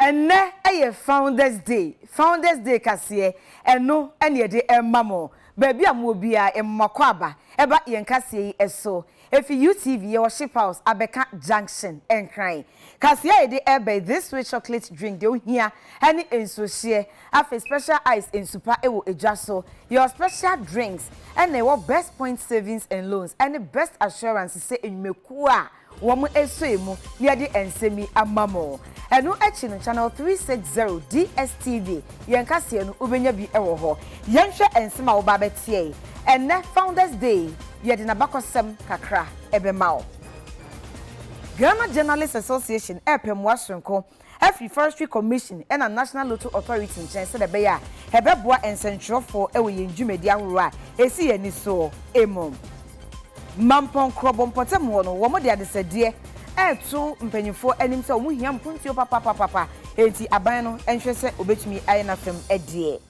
Ɛnnɛ yɛ Founders Day, Founders Day kaseɛ, ɛno ne yɛde rema mo. Baabi a mowɔ biara, yɛma mo akwaaba ba yɛn kaseɛ yi so. Ɛfiri UTV, yɛwɔ Ship House, Abɛka Junction, Nkran. Kaseɛ a yɛde reba yi, This Sweet Chocolate Drink, deɛ wohia ne nsuohyeɛ, afei Special Ice nsupa wɔ dwa so. Yɛwɔ Special Drinks, ɛnna yɛwɔ Best Point Savings and Loans ne Best Assurance sɛ nnwumakuo a, Wɔasoɛ mu na yɛde nsɛm yi ama mo. Ɛno akyi no, Channel 360, DSTV, yɛn kaseɛ no, wobɛnya bi wɔ hɔ. Yɛnhwɛ nsɛm a woba abɛteɛe. Ɛnnɛ, Founders Day, yɛde n'abakɔsɛm kakra bɛma wo. Ghana Journalists Association repɛ mmoa soronko afi Forestry Commission na National Lotto Authority nkyɛn sɛdeɛ ɛbɛyɛ a ɛbɛboa nsɛntwerɛfoɔ wɔ yɛn dwumadie ahoroɔ a ɛsi yɛn ani soɔ mu. Mampɔn Krɔbɔ mpɔtam hɔ no, wɔde adesɛdeɛ reto mpanimfoɔ anim sɛ wɔn hia mpuntuo papapapapa, enti aban no nhwɛ sɛ wɔbɛtumi ayɛ n'afam deɛ.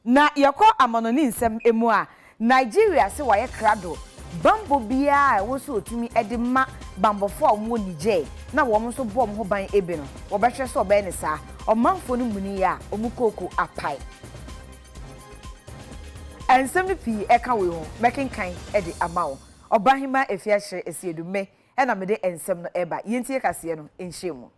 Na yɛkɔ amannɔne nsɛm mu a, Nigeria se wayɛ krado bammɔ biara a ɛwɔ sɛ ɔtumi de ma bammɔfoɔ a wɔwɔ Niger na wɔn nso bɔ wɔn ho ban bi no, wɔbɛhwɛ sɛ wɔbɛyɛ no saa. Ɔmanfoɔ no muni yɛ a, wɔn kooko apae. Nsɛm no pii ka wei ho, mɛkenkan de ama wo. Ɔbahemaa Efiakyere Asiedu, Me na mede nsɛm no reba. Yɛntie kaseɛ no nkyerɛmu.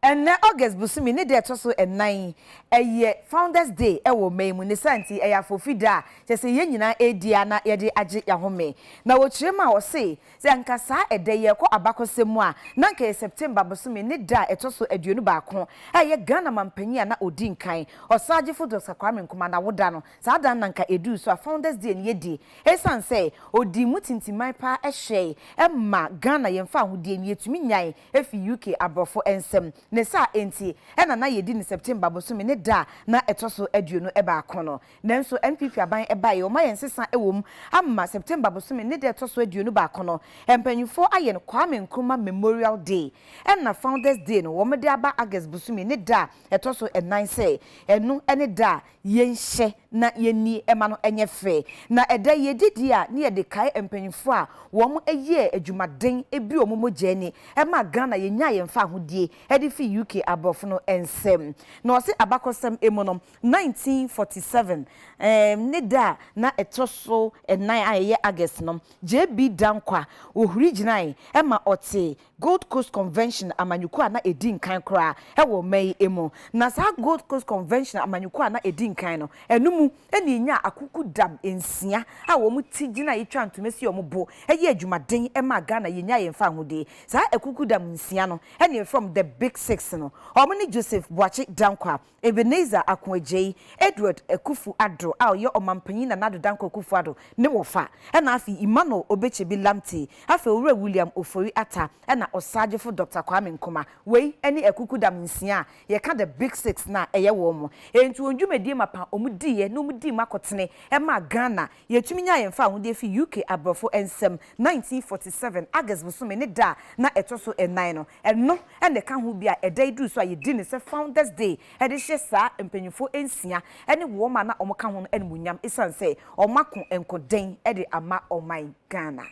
Ɛnnɛ, August bosome ne da a ɛtɔ so nnan yi, ɛyɛ Founders Day wɔ ɔman yi mu. Ne saa nti, ɛyɛ afoofi da a kyerɛ sɛ yɛn nyinaa redi ara na yɛde agye yɛn ahome. Na wɔkyerɛ mu a, wɔse, sɛ anka saa ɛda yi ɛrekɔ abakɔsɛm mu a, na anka ɛyɛ September bosome ne da a ɛtɔ so aduonu baako a ɛyɛ Ghana mampanyin a na ɔdi nkan, Ɔsaagyefo Dɔkta Kwame Nkrumah n'awoda no. Saa da no na anka ɛduu so a Founders Day no yɛdi ɛsiane sɛ ɔdii mu tintiman paa hyɛe ma Ghana yɛn fawohodie no, yɛtumi nyae efi UK aborɔfo nsam. Ne saa nti na na yɛdi no September bosome ne da a na ɛtɔ so aduonu baako no. Nanso NPP aban baeɛ, wɔayɛ nsesa wɔ mu ama September bosome ne da a ɛtɔ so aduonu baako no, mpanimfoɔ ayɛ no Kwame Nkrumah Memorial Day. Ɛna Founders Day no wɔde aba August bosome ne da a ɛtɔ so nnan sɛ ɛno ne da a Yɛnhyɛ na yɛnni mma no nyɛ fɛ. Na ɛda yi adi deɛ a, na yɛde kae mpanyinfoɔ a wɔn yɛɛ adwumaden bi wɔn mogya ani maa Ghana yɛnyaa yɛn fahodie de firi UK aborɔfo no nsam. Na wɔse abakɔsɛm mu no 1947 ne da a na ɛtɔ so nnan a ɛyɛ August no JB Danquah ɔhuri gyinae ma ɔtee Gold Coast Convention amanyɔkuo a na ɛdi nkan koraa wɔ mma yi mu. Na saa Gold Coast Convention amanyɔkuo a na ɛdi nkan no, ɛno mu na yɛnyaa akukudam nsia a wɔn ti gyina yi twaa ntoma si wɔn bo yɛɛ adwumaden maa Ghana yɛnyaa yɛn fawohodie. Saa akukudam nsia no na yɛfrɛ wɔn The Big Six no. Wɔn ne Joseph Boakye Danquah, Ebenezer Ako Agyei, Edward Akuffo Addo a ɔyɛ Ɔmampanyin Nana Addo Dankwa Akuffo Addo ne wɔfa, ɛna afei Emmanuel Obekyebi Lamptey, afei Owura William Ofori Atta, ɛna Ɔsaagyefo Dɔkta Kwame Nkrumah. Wei ne akukudam nsia a yɛka the Big Six no a ɛyɛ wɔn. Enti wɔn dwumadie mapa a wɔdiiɛ na wɔdii mu akɔtene maa Ghana Yɛtumi nyaa yɛn fawohodie firi UK aborɔfo nsam 1947 August bosome ne da a na ɛtɔ so nnan no. Ɛno na ɛka ho bi a ɛda yi duru so a yɛdi no sɛ Founders Day de hyɛ saa mpanyimfoɔ nsia ne wɔn a na wɔka ho no animuonyam ɛsiane sɛ wɔako nkoden de ama ɔman Ghana.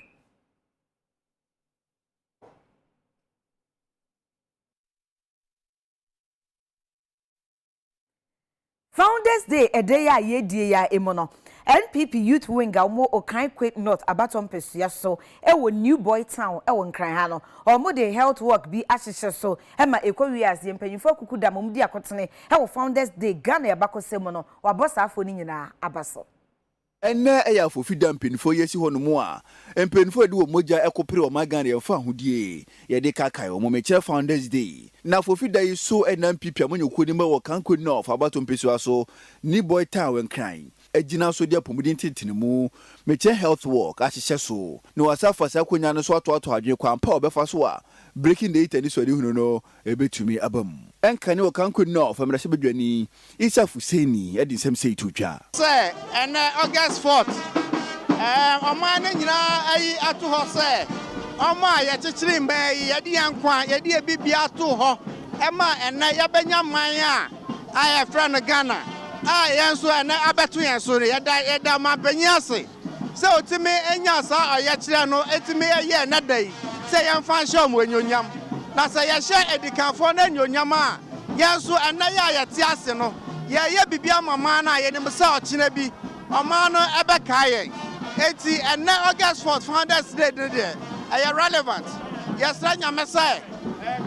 Founders Day ɛda yi a yɛredie yi ara mu no, NPP Youth Wing a wɔwɔ Okaigwe North abatoɔ mpasua so wɔ New Boy Town wɔ Nkran ha no, wɔde health walk bi ahyehyɛ so ma ɛkɔ wie a yɛn mpanyimfoɔ akuku da ma wɔdi akotene wɔ Founders Day Ghana abakɔsɛm mu no, wɔabɔ saa afoɔ no nyinaa aba so. Ɛnnɛ ɛyɛ afofida mpanyinfoɔ yi asi hɔ nom a mpanyinfoɔ a yɛde wɔn mogya ɛko pere ɔman Ghana yɛn fahodie yɛde ka kae wɔn mekyerɛ founders day na afofida yi so ɛnam pipia amanyɔkuo no mu ɛwɔ Kanko North abato mpesua so ne Boy Town Nkran agyina so de apɔmuden tentene mu mekyerɛ health walk ahyehyɛ so na wɔasan afa saa akonya no so atoatoa adwene kwan pa a wɔbɛfa so a breaking the it anisoadehunu no Ebetumi aba mu. Ɛnka ne Okankoni no a ɔfa mmarahyɛ badwani, Isah Fuseni, de nsɛm sei too dwa. Sɛ ɛnnɛ, August fourth, ɛɛ, ɔman no nyinaa ayi ato hɔ sɛ wɔn a yɛkyekyere mmaa yi, yɛde yɛn nkwa, yɛde yɛn biribiara too hɔ ma ɛnnɛ yɛabɛnya man a a yɛfrɛ no Ghana a yɛn nso ɛnnɛ abɛto yɛn so no, yɛda yɛda ɔmanpanyin ase. Sɛ otumi nyaa saa ɔyɛkyerɛ no tumi yɛ nnɛ da yi sɛ yɛmfa nhyɛ wɔn anuonyam. Na sɛ yɛhyɛ adikanfoɔ no anuonyam a, yɛn nso nnɛ yi a yɛte ase no, yɛreyɛ biribi ama ɔman no a yɛnim sɛ ɔkyena bi ɔman no bɛkae yɛn. Enti ɛnnɛ August 4th Founders Day no deɛ, ɛyɛ relevant. Yɛsrɛ Nyame sɛ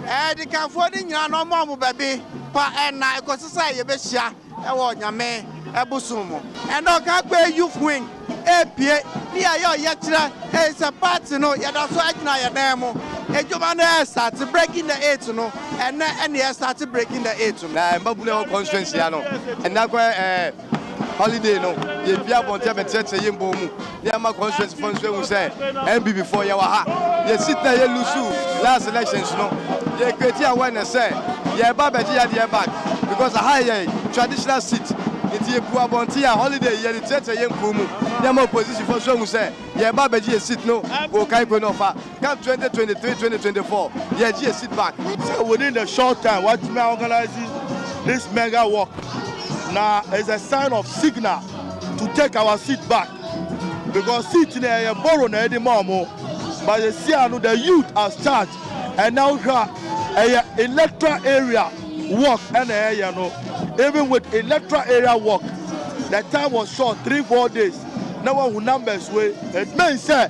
adikanfoɔ no nyinaa na ɔmma wɔn baabi pa nna kɔsi sɛ yɛbɛhyia. wɔ Nyame bosom mu. Ɛnna Ɔkankɔɛ Youth Wing repue, ne yɛayɛ ɔyɛkyerɛ, ɛfiri sɛ party no yɛda so gyina yɛn nan mu. Adwuma no restate, Breaking the Eight no, ɛnnɛ na yɛrestate Breaking the Eight no. Na mmabunu a ɛwɔ constituency ha no, ɛnnɛ akɔyɛ ɛɛ holiday no, yɛpue abɔnten abɛkyerɛkyerɛ yɛn bɔn mu. na ɛma constituency fo nso ehu sɛ NPP fo yɛwɔ ha. Yɛsi tena yɛ lusu last elections no, yɛ create awareness sɛ yɛreba abɛgye yadeɛ back because aha yɛ traditional seat. Nti yɛpu abɔnten a holiday yɛde teatea yɛ nkurow mu na ɛma opposition fo nso ehu sɛ yɛreba abɛgye yɛ seat no wɔ Okanko na ɔfa. Caf twenty twenty three twenty twenty four yɛ gye yɛ seat back. Sɛ within the short time watumi a organise this mega walk na is a sign of signal to take our seat back because seat no ɛyɛ borrow na yɛde ma ɔmo but yɛsi ano the youth as charge ɛna wohwɛ a ɛyɛ electoral area walk ɛna ɛyɛ no even with electoral area walk the time was short three four days na wahu numbers wei it means sɛ.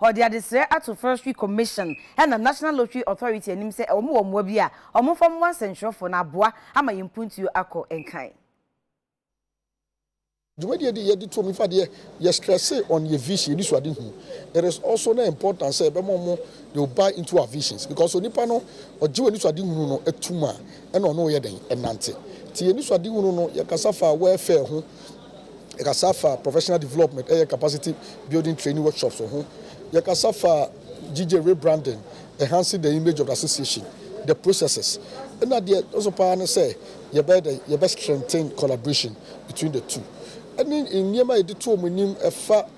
Ɔde adesrɛ ato Forestry Commission ɛna National Lottery Authority anim sɛ wɔn wɔ mmoa bi a wɔmfa mmoa nsɛntwerɛfoɔ na aboa ama yɛn mpuntuo akɔ nkan. Dwumadie yɛ de yɛ de to mi fa deɛ yɛ stresse on yɛ vision yɛ nisuade hu it is also na important sɛ yɛbɛma ɔmo they will buy into our visions because onipa no ɔgye w'anisuade hunu no tum a ɛna ɔne wo yɛ dɛn ɛnante nti yɛ nisuade hunu no yɛ kasa fa welfare ho Yɛkasa fa professional development ɛyɛ capacity building training workshops ho. Yɛkasa fa GJ rebranding, enhancing the image of the association, the processes. Ɛna deɛ ɛso paa ne sɛ yɛbɛyɛ dɛ yɛbɛ strengthen collaboration between the two. Ɛne nneɛma a yɛde to wɔn anim ɛfa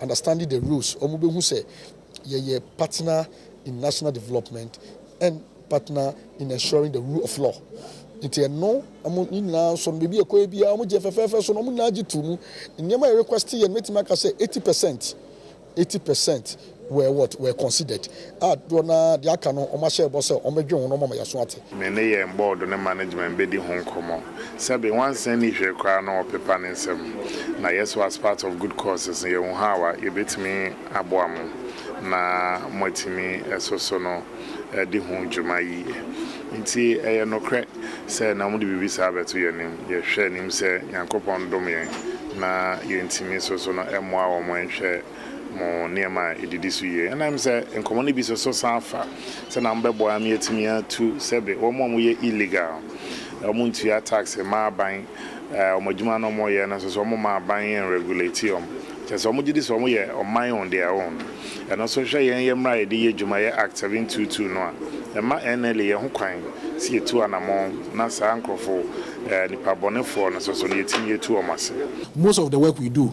Understanding the rules, wɔbɛhu sɛ yɛyɛ partner in national development and partner in ensuring the rule of law. Nti ɛno wɔn ne nyinaa nso no baabi ɛkɔɛ biara wɔn gye fɛfɛɛfɛ so na wɔn nyinaa gye to mu. Nneɛma yɛ request yɛ no mɛtumi aka sɛ 80 percent, 80 percent were what were considered a dodoɔ no ara deɛ aka no wɔahyɛ bɔ sɛ wɔbɛdwen ho no wɔama yɛaso ate. Me ne yɛn bɔɔdo ne management bɛdi ho nkɔmmɔ. Sɛbe nwansa nni hwee koraa no wɔpepa ne nsam. Na yɛ so as part of good causes no yɛhu how a yɛbɛtumi aboa mo na moatumi so so no adi ho dwuma yie. Nti ɛyɛ nokorɛ sɛ na wɔde biribi saa bɛto yɛn anim. Yɛhwɛ anim sɛ Nyankopɔn dom yɛn na yɛntumi so so no mmoa wɔn nhwɛ. mo nneɛma a edidi so yie. Ɛnna ɛm sɛ nkɔmmɔ no bi so so san fa sɛnea mobɛboa me atumi atu sɛbe wɔn a wɔyɛ illegal, wɔn ntua tax mma aban, wɔn adwuma no wɔyɛ no nso so wɔn mma aban nregulate wɔn. Kyerɛ sɛ wɔgye di sɛ wɔn yɛ ɔman on their own. Ɛno nso hwɛ yɛn yɛ mmara a yɛde yɛ dwuma yɛ Act seven two two no a, ɛmma NLA yɛ ho kwan sɛ yɛtu anamɔn na saa nkorɔfo, nnipa bɔnefoɔ no nso so no yɛtumi yɛtu wɔn ase. Most of the work we do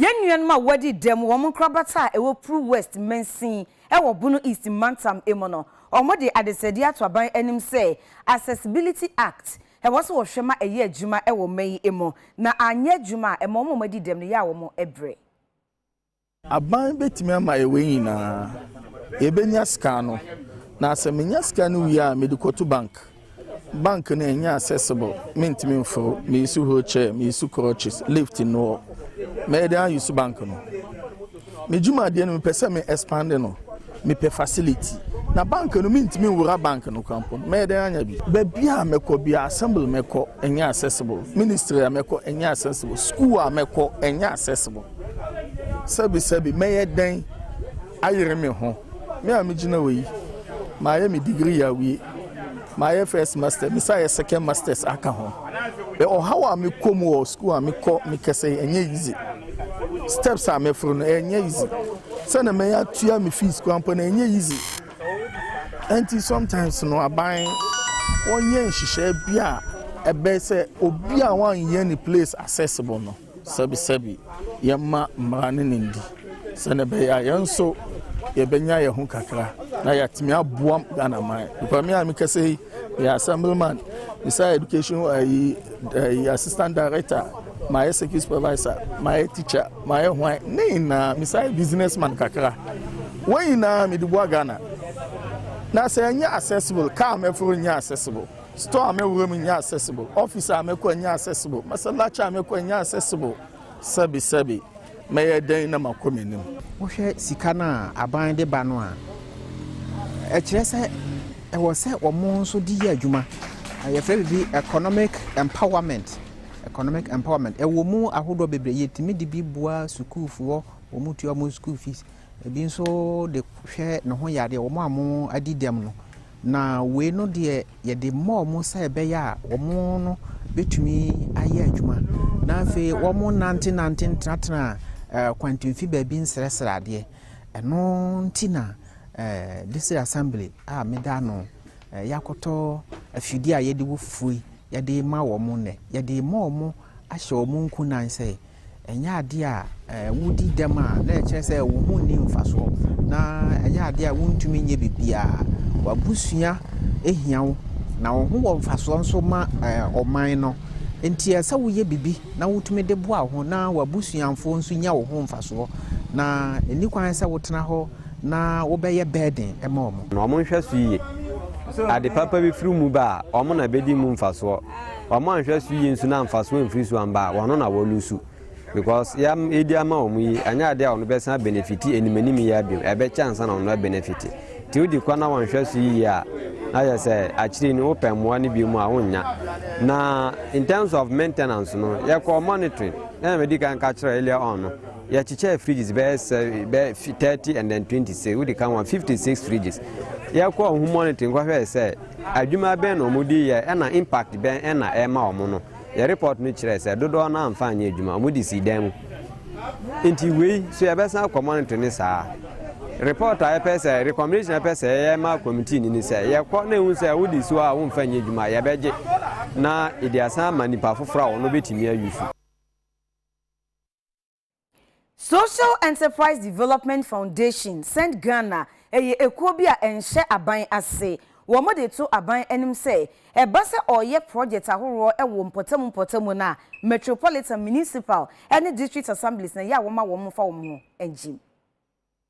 Yɛn nuanom a wɔadi dɛm wɔ wɔn nkorabata a ɛwɔ Pru West mansin wɔ Bono East mantam mu no, wɔde adesrɛdeɛ ato aban anim sɛ Accessibility Act, ɛwɔ sɛ wɔhwɛ ma ɛyɛ adwuma wɔ ɔman yi mu, na anyɛ adwuma a, ɛma wɔn a wɔadi dɛm no yɛ a wɔbrɛ. Aban bɛtumi ama yɛ wei nyinaa. Yɛbɛnya sika no. Na sɛ menya sika no wie a, mede kɔto bank. Bank no ɛnyɛ accessible. Mentumi mforo. Meyusu wheelchair, meyusu crutches, lift nni hɔ. Mɛyɛ dɛn ayusu bank no? Me dwumadeɛ no mepɛ sɛ me expande no. Mepɛ facility na bank no mentumi nwura bank no kora mpo no mɛyɛ dɛn anya bi? Baabi a mɛkɔ biara assembly mɛkɔ ɛnyɛ accessible, ministry a mɛkɔ ɛnyɛ accessible, school a mɛkɔ ɛnyɛ accessible. Sɛbi sɛbi mɛyɛ dɛn ayere me ho? Me a megyina hɔ yi mayɛ me degree awie, mayɛ first master, mesan ayɛ second masters aka ho. Ɔhaw a mekɔ mu wɔ school a mekɔ mekɛsɛ ɛnyɛ easy, steps a mɛforo no ɛnyɛ easy. Sɛnea mɛyɛ atua me fees koraa mpo no ɛnyɛ easy. Ɛnti sometimes no aban wɔnyɛ nhyehyɛɛ bi a ɛbɛyɛ sɛ obi a wɔanyɛ ne place accessible no sɛbisɛbi yɛma mmara ne ne ndi sɛnea ɛbɛyɛ a yɛn nso yɛbɛnya yɛn ho kakra na yɛatumi aboa Ghana man. Because me a mekasa yi, yɛ assemblyman, me sɛ education ayi eh, eh, assistant director Mayɛ circuit supervisor, mayɛ teacher, mayɛ hwan, ne nyinaa mesan yɛ business man kakra. Wɔn nyinaa mede boa Ghana. Na sɛ ɛnyɛ accessible, car a mɛforo nyɛ accessible, store a mɛwura mu nyɛ accessible, office a mɛkɔ nyɛ accessible, masallaci a mɛkɔ nyɛ accessible, sɛbesɛbe. Mɛyɛ dɛn na makɔ m'anim? Wohwɛ sika no a aban de ba no a, ɛkyerɛ sɛ ɛwɔ sɛ wɔn nso de yɛ adwuma. Yɛfrɛ biribi economic empowerment. Economic empowerment. Ɛwɔ mu ahodoɔ bebree. Yɛtumi de bi boa sukuufoɔ, wɔtua wɔn school fees. Ebi nso de hwɛ ne ho yadeɛ, wɔn a wɔadi dɛm no. Na wei no deɛ yɛde ma wɔn sɛ ɛbɛyɛ a wɔn no bɛtumi ayɛ adwuma. Na afei wɔnnantenante ntenatena eh, kwantimfi baabi nsrɛsrɛ adeɛ. Ɛno nti na eh, District Assembly a meda no eh, yɛakɔtɔ afidie a yɛde wo fufuo yi yɛde ma wɔn nnɛ. Yɛde ma wɔn ahyɛ wɔn nkunan sɛ Ɛnyɛ adeɛ a wodi dɛm a, na ɛkyerɛ sɛ wo ho nni mfasoɔ, na ɛnyɛ adeɛ a wontumi nyɛ biribiara. W'abusua hia wo, na wo ho wɔ mfasoɔ nso ma ɔman no. Enti ɛsɛ sɛ woyɛ biribi na wotumi de boa wo ho na w'abusuafoɔ nso nya wo ho mfasoɔ, na ɛnni kwan sɛ wotena hɔ na wobɛyɛ burden ma wɔn. Wɔnhwɛ so yie. Ade papa bi firi wo mu ba a, wɔn na ɛbɛdi mu mfasoɔ. Wɔn anhwɛ so yie nso na mfasoɔ amfiri so amba a, wɔn ano na wɔlusu. Because yɛ a yɛdi ama wɔn yi, ɛnyɛ adeɛ a wɔn bɛsan abenefiti anim anim yi ara bio, ɛbɛkyɛ ansa na wɔn abenefiti. Nti wodi kɔ na wɔanhwɛ so yie a, na kyerɛ sɛ akyire no wopɛ mmoa no bio mu a, wonnya. Na in terms of maintenance no, yɛkɔɔ monitoring, sɛdeɛ madi kan ka kyerɛ earlier on no, yɛkyekyɛɛ fridges bɛyɛ sɛ bɛyɛ fi- 30 and then 26, wodi kan wɔn 56 fridges. Yɛkɔɔ ho monitoring kɔhwɛɛ sɛ Adwuma bɛn na wɔde yɛe, ɛnna impact bɛn na ɛma wɔn no? Yɛn report no kyerɛe sɛ dodoɔ no ara amfa anyɛ adwuma, wɔde sii dan mu. Enti wei nso yɛbɛsan akɔ monitor no saa ara. Report a yɛpɛ sɛ, recommendation a yɛpɛ sɛ yɛyɛ ma committee no ne sɛ, yɛkɔ na yɛhu sɛ wode si hɔ a womfa nyɛ adwuma a, yɛbɛgye na yɛde asan ama nnipa afoforɔ a wɔbɛtumi ayusu. Social Enterprise Development Foundation Send Ghana yɛ ekuo bi a ɛnhyɛ aban ase. Wɔn de to aban anim sɛ ɛba sɛ ɔreyɛ project ahoroɔ wɔ mpɔtamu mpɔtamu no a, Metropolitan, Municipal ne District Assemblies na ɛyɛ a wɔma wɔn fa wɔn ho gyim.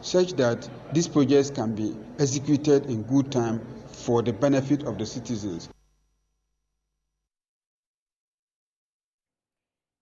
such that these projects can be executed in good time for the benefit of the citizens.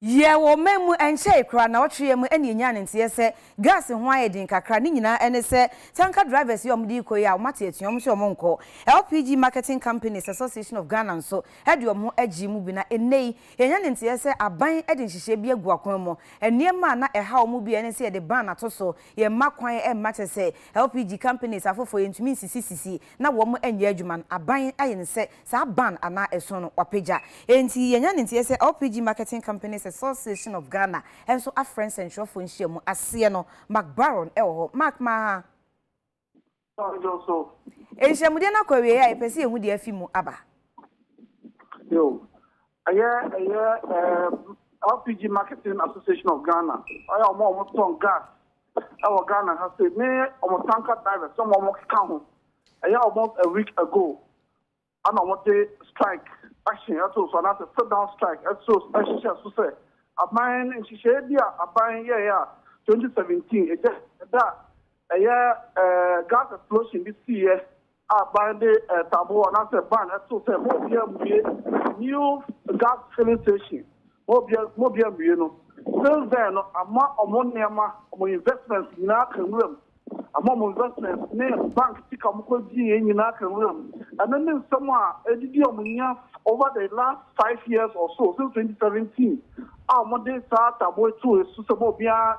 Yɛ wɔ ɔman mu ɛnkyɛe koraa na ɔtwe yɛ mu ɛna yɛnyaa ne nteɛ sɛ gas ho ayɛ den kakra ne nyinaa ɛne sɛ tanker drivers yi a wɔde rekɔ yi a wɔate atua wɔn sɛ wɔn nkɔ LPG marketing companies association of Ghana nso ɛde wɔn ho agyee mu bi na ɛnnɛ yi Yɛanya ne nteɛ sɛ aban de nhyehyɛɛ bi agu akwan mu. Nneɛma a na ɛhaw wɔn mu biara ne sɛ yɛde ban ato so, yɛmma kwan mma kyerɛ sɛ LPG companies afoforɔ yɛntumi nsisi sisi na wɔn nyɛ adwuma no. Aban ayɛ no sɛ saa ban anaa ɛsono no wɔapagya. Enti yɛanya ne nteɛ sɛ LPG Marketing Companies Association of Ghana nso afrɛ nsɛntwerɛfoɔ nhyiamu aseɛ no. Mark Baron wɔ hɔ. Mark, ma. Nhyiamudeɛ no akɔ awieɛ a yɛpɛ sɛ yɛhu deɛ afi mu aba. Ɛyɛ ɛyɛ LPG Marketing Association of Ghana ɛyɛ wɔn a wɔtɔn gas ɛwɔ Ghana ha sɛ ne wɔn tanker drivers wɔn a wɔkeka ho ɛyɛ almost a week ago Ana wɔde strike action ato so anaasɛ sit down strike ato ahyehyɛ so sɛ aban no nhyehyɛɛ bi a aban yɛɛ a 2017 egya ɛda a ɛyɛ gas explosion bi siiɛ a aban de taboɔ anaasɛ ban ɛto sɛ mo obia mmue new gas filling station mo obia mo obia mmue no since then no ama ɔmo nneɛma ɔmo investments nyinaa aka nwura mu. Ama wɔn investments ne bank sika a wɔkɔgyeeɛ nyinaa aka nwura mu. Ɛno ne nsɛm a adidi a wɔanya over the last five years or so, since twenty seventeen a wɔde saa taaboo yi too so sɛ ma obiara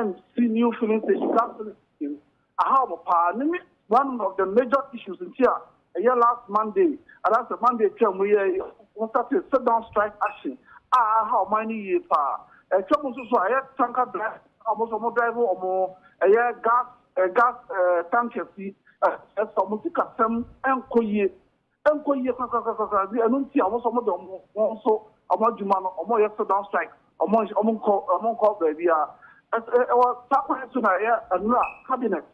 nsi new filling station, gas filling station, aha wɔpaa. Ɛno ne one of the major issues nti a Ɛyɛ last Monday anaasɛ Monday a twaa mu yi a wɔ startee sit down strike action a aha ɔman no yie paa. Ɛtwa mu nso so a ɛyɛ tanker drivers a wɔn nso wɔn drive wɔn ɛyɛ gas gas tankers yi kyerɛ sɛ wɔn sikasɛm nkɔ yie nkɔ yie korakorakorakora ɛno nti a wɔn nso wɔde wɔn wɔn nso wɔn adwuma no wɔyɛ sit down strike. Wɔnhyɛ, wɔnkɔ, wɔnkɔ baabiara. Ɛs, ɛ, ɛwɔ saa kwan yi so na ɛyɛ nnora, cabinet,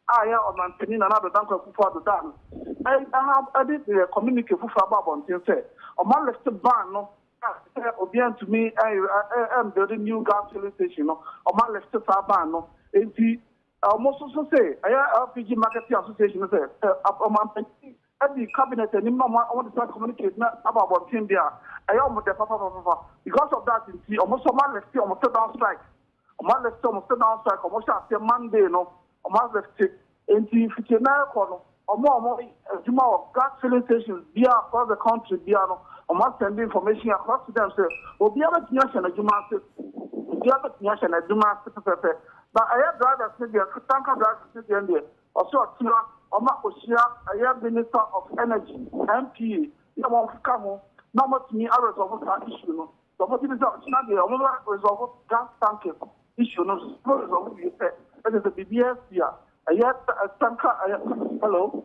a ɛyɛ Ɔmanpanin Nana Addo Dankwa Akufo-Addo daa no adi ha de yɛ communique foforo abɔ abɔnten sɛ wɔalift ban no a sɛ obiara ntumi ɛyɛ, ɛ, ɛ, ɛmbuilde new gas filling station no, wɔalift saa ban no. Enti, ɛ, wɔn nso so se ɛyɛ LPG Marketing Association no sɛ, ɛ, ɛ, Ɔmanpanin Ɛfi cabinet anim na wɔn wɔn decide communicate na aba abɔnten deɛ a, ɛyɛ wɔn dɛ papapapapafa. Because of that nti, wɔn nso wɔn a lifte wɔn sit down strike. Wɔn a lifte wɔn sit down strike a wɔhyɛ aseɛ Monday no, wɔn a lifte. Nti mfitie no ɛrekɔ no, wɔn a wɔyɛ adwuma wɔ gas filling stations biara across the country biara no, wɔn a send information across to them sɛ obiara bɛtumi ahyɛ n'adwuma ase. Obiara bɛtumi ahyɛ n'adwuma ase pɛpɛpɛ. But ɛyɛ drivers no deɛ, tanker drivers no deɛ deɛ, Ɔsɛ ɔtsena ɔma ohyia ɛyɛ Minister of Energy, MPA, na wɔn ka ho na ɔmo atumi a resolve saa issue no. Deɛ ɔmo gye di sɛ ɔkyena deɛ ɔmo bɛ resolve gas tankers issue no. Sɛ ɔmo resolve wie pɛ, ɛkyerɛ sɛ biribiara asi a ɛyɛ central ɛyɛ hello.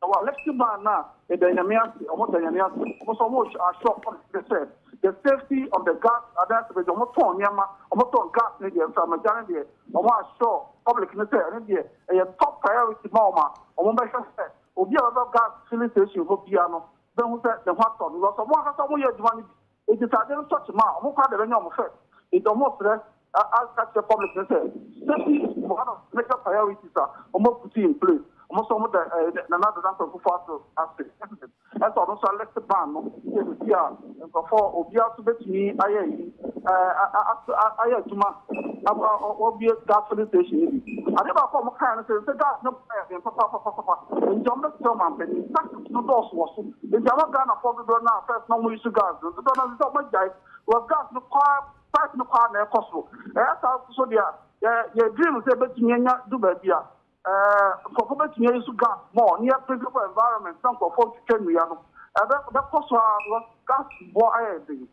Na wɔ ahɛsti baa no a, meda Nyame ase, ɔmo da Nyame ase, ɔmo so ɔmo asɔ ɔmo hwɛ sɛ the safety of the gas adansi bɛgye ɔmo tɔn nneɛma, ɔmo tɔn gas no deɛ, mframa gya no deɛ, ɔmo asɔ public no sɛ ɛno deɛ ɛyɛ top priority ma ɔmo a ɔmo bɛhwɛ sɛ obi a ɔbɛba gas filling station hɔ biara no bɛhu sɛ ne ho atɔ no, because ɔmo ankasa ɔmo yɛ adwuma no bi. Ebisade no tɔ kyema a, wɔkɔ a na wɔanya wɔn fɛ. Enti wɔsrɛ a ka kyerɛ public no sɛ, Safety is one of the major priorities a wɔaputi in place. Wɔn nso wɔda Nana Addo Dankwa Akufo-Addo ase sɛ ɔno nso alift ban no sɛ biribi a nkurɔfoɔ obiara nso bɛtumi ayɛ ayi ayɛ adwuma a wɔabue gas filling station no bi. Adeɛ baako a wɔkaeɛ no sɛ, sɛ gas no ba yɛ den papaapapapa, enti wɔbɛsrɛ ɔmanpanin, taxes. no dɔɔso wɔ so. Enti ama Ghanafoɔ dodoɔ no a first na wɔyi so gas no dodoɔ no ara sɛ sɛ wɔagyae because gas no kɔ ara price no kɔ ara na ɛkɔ soro. Ɛyɛ saa nso so deɛ a yɛ yɛ dream sɛ yɛbɛtumi anya du baabi a ɛɛ nkurɔfoɔ bɛtumi ayi so gas more na yɛ preserve environment na nkurɔfoɔ ntwitwa nnua no ɛbɛ ɛbɛkɔ so ara because gas boɔ ayɛ den.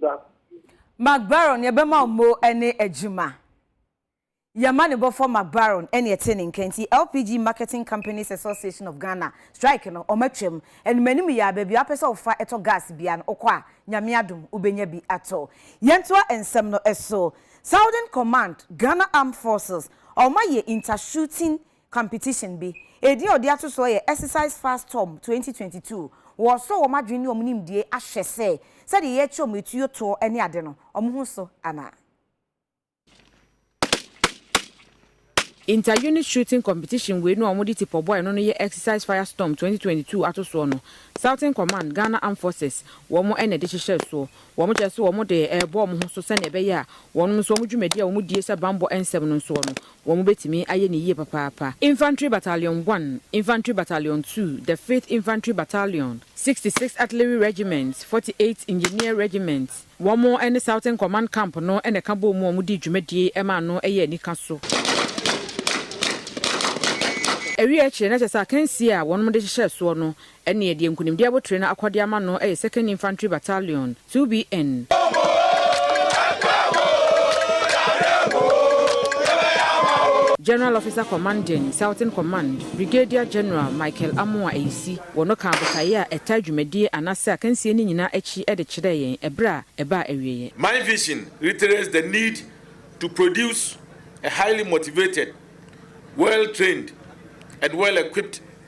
da. Mark Baron nea ɛbɛma wo mo ne adwuma. Yɛma ne bɔfoɔ Mark Baron ne ɛte ne nka nti LPG Marketing Companies Association of Ghana strike no ɔma twam. Anim anim yi ara baabi a wopɛ sɛ wofa tɔ gas biara no wokɔ a Nyame adom wobɛnya bi atɔ. Yɛntoa nsɛm no so. Southern Command, Ghana Armed Forces, wɔayɛ inter-shooting competition bi. Edin a ɔde ato soɔ yɛ Exercise Fast Tom twenty twenty two. Wɔresɔ wɔn adwene ne wɔn nimdeɛ ahwɛ sɛ sɛdeɛ yɛrekyɛ wɔn atuo toɔ ne ade no, wɔn ho so anaa. Inter-unit shooting competition wei no a wɔde tipɔ bɔ ɛno no yɛ Exercise Fire Storm twenty twenty two atosoɔ no. Southern Command, Ghana Armed Forces, wɔn na ɛde hyehyɛɛ soɔ. Wɔkyerɛ sɛ wɔn de rebɔ wɔn ho so sɛdeɛ ɛbɛyɛ a wɔnom nso wɔn dwumadie a wɔdie hyɛ bammɔ nsɛm no nsoɔ no, Wɔbɛtumi ayɛ no yie papaapa. Infantry Battalion One, Infantry Battalion Two, The Fifth Infantry Battalion, Sixty Sixth Artillery Regiment, Forty Eighth Engineer Regiment, wɔn ne Southern Command Camp no na ɛka bɔɔ mu a wɔdii dwumadie maa no yɛɛ anika so. Awieɛ akyire na kyerɛ sɛ akansie a wɔnom de hyehyɛɛ soɔ no Ɛneɛ deɛ nkunimdie abotire no akɔ de ama no yɛ Second Infantry Battalion, 2BN. General Officer Commanding, Southern Command, Brigadier General Michael Amoah Ayisi, wɔ no kaa botaeɛ a ɛtaa dwumadie anaasɛ akansie no nyinaa akyi de kyerɛɛ yɛn ɛberɛ a ɛbaa awieɛ. My vision reiterates the need to produce a highly motivated, well-trained and well-equipped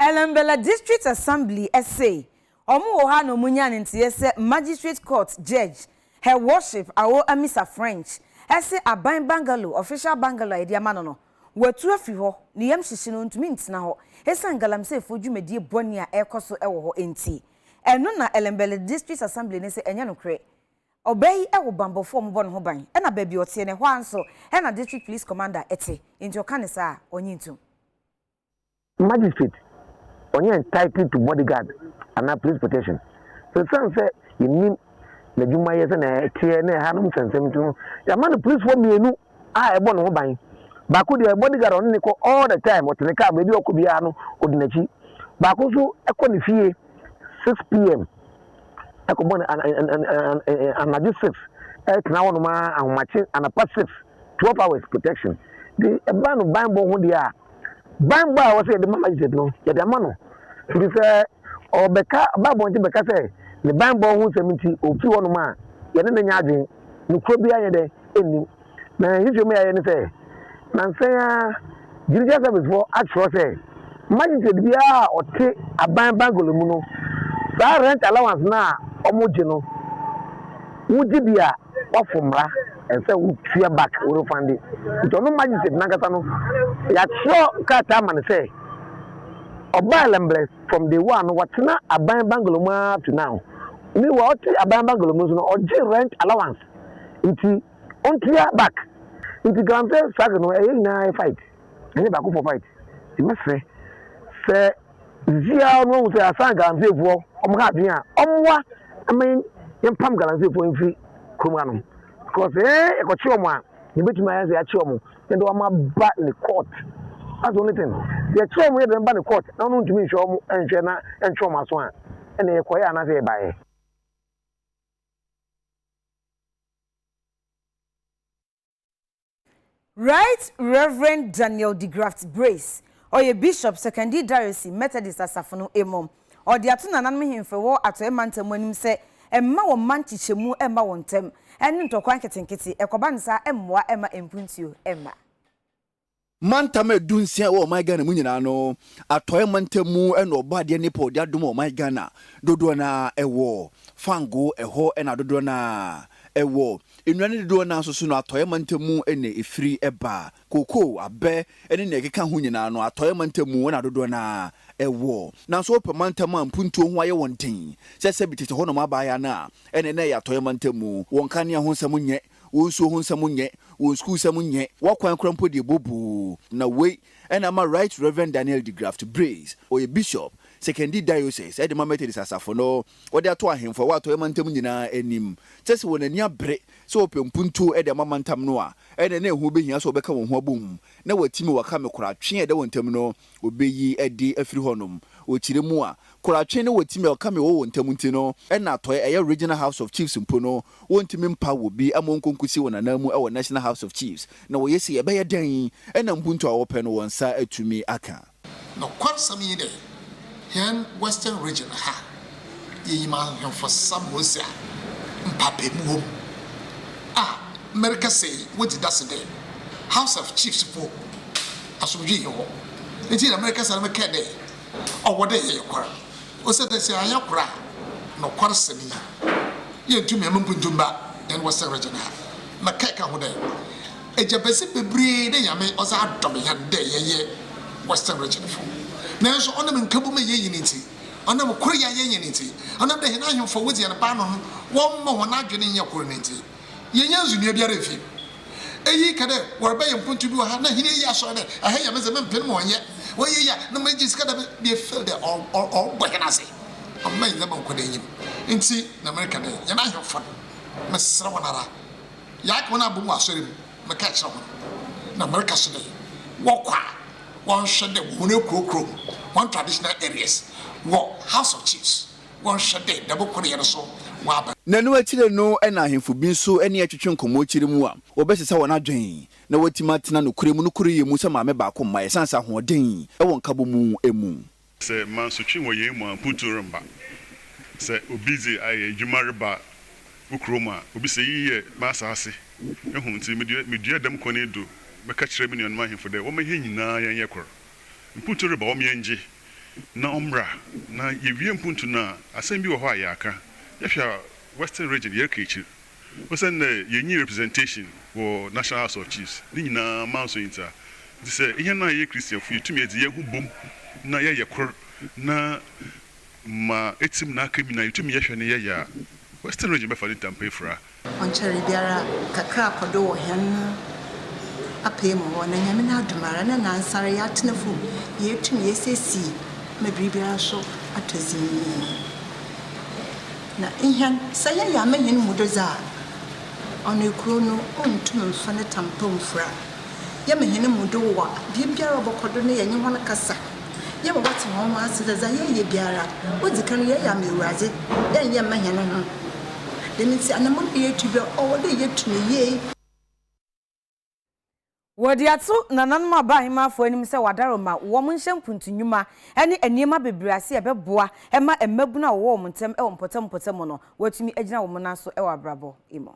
Elembela District Assembly se wɔn wɔ hɔ a na wɔn nya ne nteɛ sɛ Magistrate Court Judge Her Worship Awo Amisa French se aban bungalow, official bungalow a yɛde ama no no, watu afiri hɔ, ne yam hyehye no, ɔntumi ntena hɔ esiane Galamseyfoɔ dwumadie bɔne a ɛrekɔ so wɔ hɔ nti. Ɛno na Elembela District Assembly no se ɛnyɛ nokorɛ. Ɔbaa yi wɔ banbɔfoɔ a wɔbɔ ne ho ban, ɛna baabi a ɔteɛ no, ɛhɔ ara nso na District Police Commander te, enti ɔka no saa a, ɔnnye ntom. Magistrate, ɔnyɛ entitled to bodyguard anaa police protection. Esiane sɛ yɛnnim n'adwumayɛ sɛnea ɛteɛ ne ɛhanom nsɛmnsɛm nti no, yɛama no policefoɔ mmienu a ɛbɔ ne ho ban. Baako deɛ, bodyguard a ɔne no kɔ all the time, ɔte ne kaa mu, baabi a ɔkɔ biara no, ɔdi n'akyi. Baako nso kɔ ne fie 6 pm. ɛkɔ bɔ ne anadwo sif ɛtena hɔ nom ara ahomakye anapa sif twelve hours protection de ɛba no banbɔ ho deɛ a banbɔ a wɔsɛ yɛde ma magistrate no yɛde ama no nti sɛ ɔbɛka ɔba abɔnten bɛka sɛ ne banbɔ ho nsɛm nti ofi hɔ nom a yɛne ne nyɛ adwene no kuro biara yɛ dɛ ɛnnim na nhwehwɛmu a yɛayɛ ne sɛ, nnansa yi ara Judicial Service foɔ atwerɛ sɛ magistrate biara a ɔte aban bungalow mu no, saa rent allowance no a wɔgye no, wogye bi a, woafom mmara, ɛsɛ sɛ wotua back, wo refund. Nti ɔno magistrate no ankasa no, yɛatwerɛ krataa ama no sɛ, ɔbaa Lembless from day one no, watena aban bungalow mu ara up to now. Meanwhile, ɔte aban bungalow mu nso no, ɔgye rent allowance. Nti. Ontua back nti kan sɛ struggle no ɛyɛ nyinaa yɛ fight ɛnyɛ baako foɔ fight nti mɛsrɛ sɛ sisi a ɔno ahu sɛ asan galamsey foɔ ɔmo ha adwene a ɔmoa ɛma yɛn yɛn pam galamsey foɔ mfiri kurom hanom because ɛɛ ɛkɔkye ɔmo a na ebetumi ayɛ sɛ yɛakye ɔmo na ɛde ɔmo aba ne court that's the only thing yɛkye ɔmo yɛ de ɔmo ba ne court na ɔno ntumi nhwɛ ɔmo nhwɛ na ɛntwe ɔmo aso a ɛna yɛkɔyɛ anaasɛ yɛbaeɛ. Right Rev. Daniel DeGraft Brace, ɔyɛ Bishop, Sekondi Diocese, Methodist Asafo no mu. Ɔde ato nananom hemfo wɔ Atɔe Mantam mu anim sɛ mma wɔn mma nkyekyɛmu mma wɔn ntam, ne ntɔkwa nketenkete, ɛkɔba no saa mmoa mma mpuntuo mma. Mantam a ɛdu nsia ɛwɔ ɔman Ghana mu nyinaa no, Atɔeɛ mantam mu na Ɔbɔadeɛ Nepal de adom ɔman Ghana dodoɔ no ara ɛwɔ. Fango, ɛhɔ na dodoɔ no ara ɛwɔ. Nnua no dodoɔ no ara nso so no, Atɔeɛ mantam mu na ɛfiri ba. Kokoo, abɛ ne nea ɛkeka ho nyinaa no, Atɔeɛ mantam mu na dodoɔ no ara ɛwɔ. Nanso wopɛ mantam a mpuntuo ho ayɛ wɔn den, sɛ sɛbi tete hɔnom abaayaa no a, ɛnneɛ na ɛyɛ Atɔeɛ mantam mu. Wɔnka ne ho nsɛm nyɛ Wo nsuo ho nsɛm nyɛ, wo nsukuusɛm nyɛ, w'akwan koraa mpo deɛ ɛbɔ buu. Na wei na ama Right Reverend Daniel DeGraft Breese, ɔyɛ Bishop, Sekondi Diocese de ma Methodist Asafo no, wɔde ato ahemfo a ɛwɔ Atɔeɛ Mantam nyinaa anim, kyerɛ sɛ wɔn ani abere sɛ wɔpɛ mpuntuo de ama mantam no a, ɛnneɛ na ɛho bɛhia sɛ wɔbɛka wɔn ho abom na wɔatim wɔaka me koraa twe a ɛda wɔn ntam no obeyi adi afiri hɔnom. Wɔ kyerɛ mu a, Koratwe ne Wɔtimi a ɔka me wɔ wɔn ntam nti no, ɛna atɔe ɛyɛ Regional House of Chiefs mpo no, wɔntumi mpa wɔ bi ama ɔnkɔ nkosi wɔn anan mu wɔ National House of Chiefs. Na wɔyɛ sei a, ɛbɛyɛ dɛn na mpuntu a wɔpɛ no, wɔn nsa atumi aka? Nɔkwasɛm nye dɛ, hɛn Western Region ha, Yɛnyim Ahemfo Samosia mpaapaemu wɔ mu a, merekasa yi wodzi dase dɛ House of Chiefs fo asomdwee nnyi hɔ. Ntsi na merekasa no mekãa dɛ ɔwɔ dɛ yɛyɛ kor osiandɛ sɛ annyɛ kor a, nokwarsɛm yi yenntum hɛn mpontu mma hɛn wɔ Sɛ Region ha. Na kɛkã ho dɛ, egyabɛdze beberee na Nyame ɔdze adom hɛn dɛ yɛyɛ Western Region fo. Naaso ɔnam nkabom a yennyi no ntsi, Ɔnam kor a yɛnye hɛn ntsi, ɔnam dɛ hɛn ahemfo a wodzi hɛn paanoo no wɔmma hɔn adwen nnyɛ kor no ntsi, yɛnnya ndzinoa biara mmfi mu. Iyi ka dɛ wɔrebɛyɛ mpontu bi wɔ ha na hɛn eyi asɔr dɛ, ha yɛ me dze, memmpen mu ɔnnyɛ. Wɔyɛ iyi a, na megye sika dɛ yefeel dɛ ɔrobɔ hɛn adze, ɔmma hɛn ndzɛmba nnkɔ n'enyim. Ntsi na mereka dɛ, hɛn ahemfo no, meserɛ hɔn ara, yɛaka hɔn abɔ mu wɔ asɔr mu. Meka kyerɛ hɔn, na mereka so dɛ, wɔkɔ a, wɔnhwɛ dɛ wɔ hɔn ekurow kurow mu, hɔn traditional areas, wɔ House of Chiefs, wɔnhwɛ dɛ dɛm ko no yɛ no so wɔaba. Na no ekyir no na ahemfo bi so nye etwetwe nkɔmbɔ ekyir mu a, wɔbɛsesa hɔn adwen, na woetum atsena nokwar mu, nokoryɛ mu sɛ maame baako mma, esian sɛ ahoɔdzen wɔ nkabɔmu mu. Sɛ mansotwe wɔ yei mu a, mpontu remba. Sɛ obi dze ayɛ edwuma reba wo kurom a, obisa, Iyi yɛ m'asaase ho ntsi mede medua dɛm kwan yi do bɛka kyerɛ me nuanom ahemfo dɛ wɔmma hɛn nyina yɛnyɛ kor? Mpontu reba, ɔwɔ ma yɛngye na ɔmbra. Na yewie mpontu no a, asɛm bi wɔ hɔ a yɛakã. Yɛhwɛ a, Western Region, yɛreka ekyir. Osian dɛ yennyi representation wɔ National House of Chiefs, ne nyina man so ntsa, ntsi sɛ hɛn a yɛyɛ Christianfo yetum yɛdze hɛnho bɔ mu na yɛyɛ kor na ma etsim na aka mu nyina yetum yɛhwɛ na yɛyɛ a, Western Region bɛfa ne ntampa efura. Ɔnnkyɛree biara kakra kɔ do wɔ hɛn apaa mu hɔ, na Nyame n'adom ara na nansara yɛatsena famu, yeetum yeesiesie ma biribiara so atɔ dzinn. Na hɛn, sɛ yɛyɛ ama hɛn mu dodze a, ɔno ekurow no onntum mmfa ne tam pa mmfura. Yɛma hɛn mu do wɔ biribiara a ɔbɔkɔ do na yɛnye hɔn kasa, yɛma wɔtse hɔn ho ase dɛ dza yɛreyɛ biara, odzi kan no yɛreyɛ ama Ewuradze, yɛnnyɛ mma hɛnho. Dɛm ntsi, anamɔn bi a yetu bi a, ɔwɔ dɛ yetu no yie. Wɔde ato nananom a baa Ahemmaa Afɔr anim sɛ wɔadaro ma wɔnhyɛ mpuntu nnwuma ne nneɛma bebree ase a ɛbɛboa ma mmabun a wɔwɔ wɔn ntam wɔ mpɔtam mpɔtam no wɔatumi agyina wɔn nan so wɔ abrabɔ mu.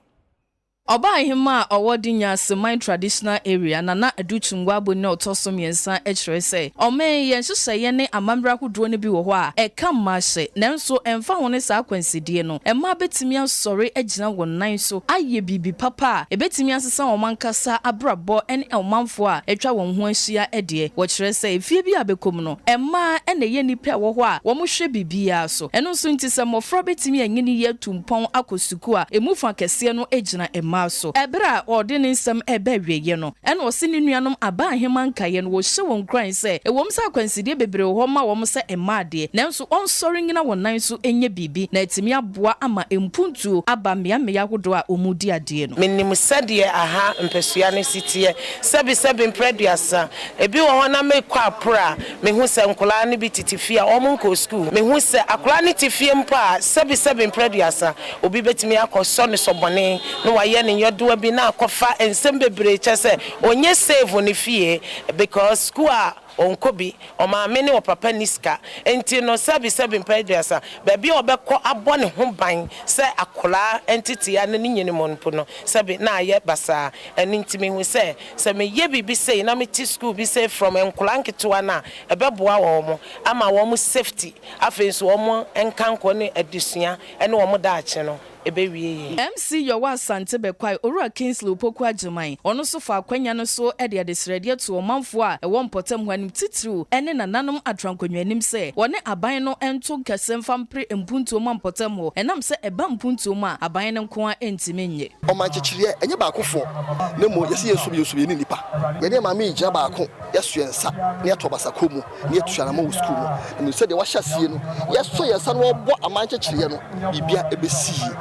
Ɔbaa Ahemmaa a ɔwɔ Dinyase Man Traditional Area, Nana Adu Tungwa Aboni na ɔtɔ so mmiɛnsa kyerɛ sɛ, Ɔman yɛ nhyehyɛeɛ ne amammerɛ ahodoɔ no bi wɔ hɔ a ɛka mmahyɛ, nanso ɛmfa ho ne saa akwansideɛ no, Mmaa betumi asɔre agyina wɔn nan so ayɛ biribi papa a ebetumi asesa wɔn ankasa abrabɔ ne ɔmanfo a atwa wɔn ho ahyia deɛ. Wɔkyerɛ sɛ efie bi a bɛkɔ mu no, mmaa na ɛyɛ nnipa a ɛwɔ hɔ a wɔhwɛ biribiara so. Ɛno nso nti, sɛ mmofra betumi anyini yie atu mpɔn akɔ sukuu a, emu fã kɛseɛ no gyina mmaa so. Bere a ɔde ne nsɛm reba awieeɛ no, ɛna ɔse ne nuanom Abaa Aheman nkaeɛ no, wɔhyɛ wɔn nkuran sɛ ɛwom sɛ akwansideɛ bebree wɔ hɔ ma wɔn sɛ mmaa deɛ, nanso, wɔnsɔre nnyina wɔn nan so nyɛ biribi na atumi aboa ama mpuntuo aba mmeammea ahodoɔ a wɔredi adeɛ no. Menim sɛdeɛ aha mpasua no si teɛ, sɛbesɛbe mprɛ aduasa. Ebi wɔ hɔ na mekɔ a poro a mehu sɛ nkwadaa no bi tete fie a wɔnkɔɔ sukuu. Mehu sɛ akwadaa no te fie mpo a, sɛbesɛbe mprɛ aduasa, obi bɛtumi akɔsɔ no sɔ bɔne na wayɛ no nyɔdoa bi na akɔfa nsɛm bebree kyɛ sɛ ɔnyɛ save ne fie because sukuu a Ɔnkɔ bi, ɔmaame ne ɔpapa nni sika nti no sɛbi sɛbi mpɛn aduasa, baabi a ɔbɛkɔ abɔ ne ho ban sɛ akwadaa ntetea ne ne nyini mu mpo no sɛbi na ayɛ basaa. Ɛno nti mehu sɛ, sɛ meyɛ biribi sei na mete sukuu bi sei from nkwadaa nketewa no a, ɛbɛboa wɔn ama wɔn safety, afei nso wɔn nkankɔ ne adesua ne wɔn daakye no. ɛbɛwie yɛn. MC Yɔwa Asante bɛkwae Owura Kingsley Opoku Agyeman, ɔno nso faa akwanya no so de adesrɛdeɛ too ɔmanfoɔ a ɛwɔ mpɔtam hɔ anim titiriw ne nananom atrankonnwa anim sɛ wɔne aban no nto nkɛse mfa mpere mpuntuo mma mpɔtam hɔ ɛnam sɛ ɛba mpuntuo mu a aban no nko ara ntumi nnye Ɔman kyekyereɛ ɛnyɛ baakofoɔ na mmom yɛse yɛnsom yɛnsom yɛne nnipa. Yɛne Maame yi gyina baako, yɛsoɛ nsa na yɛto ɔbasa kɔ mu. na yɛatua no ama wɔ sukuu no mu. Na menim sɛ deɛ wɔahyɛ aseɛ no, yɛsɔ yɛn nsa na wɔbɔ aman nkyekyereɛ no, biribiara ɛbɛsi yie.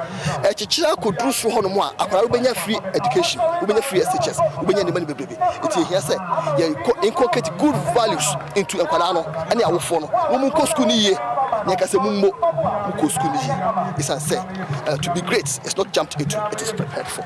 Ɛkyekyere akɔduru soro hɔ nom a, akwadaa no bɛnya free education, wobɛnya free SHS, wobɛnya nneɛma no bebrebe. Nti ɛhia sɛ yɛkɔ inculcate good values into nkwadaa no ne awofoɔ no, na wɔnkɔ sukuu no yie, na yɛka sɛ mommɔ mokɔ sukuu no yie. Ɛsiane sɛ uh, to be great is not jumped into, it is prepared for.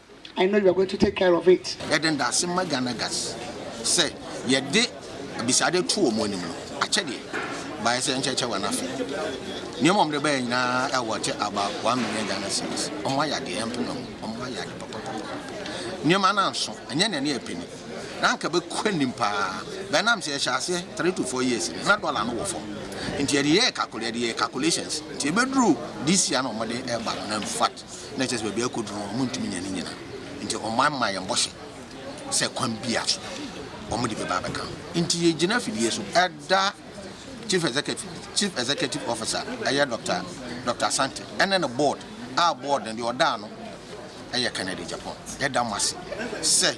I know you are going to take care of it. Yɛde ndaase ma Ghana Guards sɛ yɛde abisade to wɔn anim no, akyɛdeɛ baeɛ sɛ nkyɛkyɛ wɔn afe. Nneɛma a wɔde baeɛ nyinaa ɛwɔ wɔte about one million Ghana cedis. Wɔn ayɛ adeɛ, yɛmpene wɔn, wɔn ayɛ ade papapapa. Nneɛma no anso, ɛnyɛ nea ne yɛ pene. Na anka ɛbɛkɔ anim paa, bɛɛ nam sɛ yɛhyɛ aseɛ three to four years no, na dɔla no wɔ fam. Nti yɛde yɛɛ calcul, yɛde yɛɛ calculations, nti ɛbɛduru this year na wɔde ɛreba no, na in fact, na kyerɛ sɛ baabi a ɛrekɔduru no, wɔntumi nya ne nyinaa. Enti wɔmaa maa yɛn bɔhyɛ sɛ kwan biara so wɔde bɛba abɛka ho. Enti yɛgyina afidie so da Chief Executive Chief Executive Officer ɛyɛ Dr. Dr. Asante ɛne ne board a board no deɛ ɔda ano ɛyɛ Kennedy Agyapong. Yɛda mo ase sɛ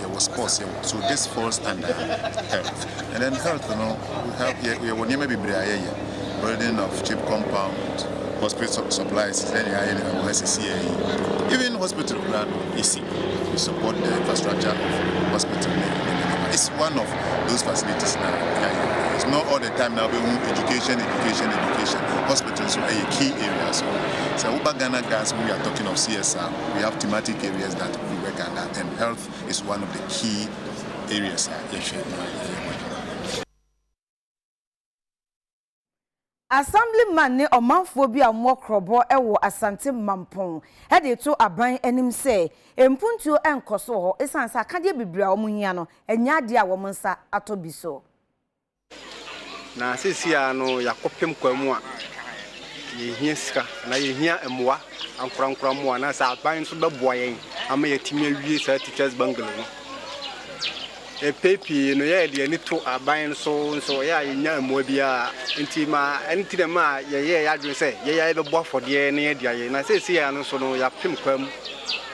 Yɛwɔ sports yɛwɔ so this falls under health and then health no we have yɛ yɛwɔ nneɛma bebree a yɛyɛ building of cheap compound hospital supplies sɛnea yɛayɛ no wɔ ha sisi yɛ yi even hospital koraa no yɛsi we support the infrastructure of hospital ne nneɛma nneɛma it's one of those facilities na yɛayɛ it's not all the time na wobɛhu education education education hospital nso ɛyɛ key area so sɛ woba Ghana gas we are talking of CSR we have thematic areas that we work under and health is one of the key areas a yɛhwɛ na yɛyɛ ho adwuma. Assemblyman ne ɔmanfoɔ bi a wɔwɔ Krɔbɔ wɔ Asante Mampong de reto aban anim sɛ mpuntuo nkɔ so wɔ hɔ esiane sɛ akadeɛ bebree a wɔhia no nyɛ adeɛ a wɔn nsa atɔ bi so. Na seesei ara no, yɛakɔpem kwa mu a yehia sika anaa yehia mmoa, ankorankoro mmoa anaasɛ aban nso bɛboa yɛn ama yɛatumi awie saa Teachers Bungalow no. Mpɛn pii no, yɛde yɛn ani to aban no so nso, ɛyɛ a yennya mmoa biara. Enti ma ɛno nti na ɛma yɛyɛɛ yɛn adwene sɛ yɛn ara yɛbɛbɔ afɔdeɛ na yɛde ayɛ. Na seesei ara no nso no, yɛapem kwa mu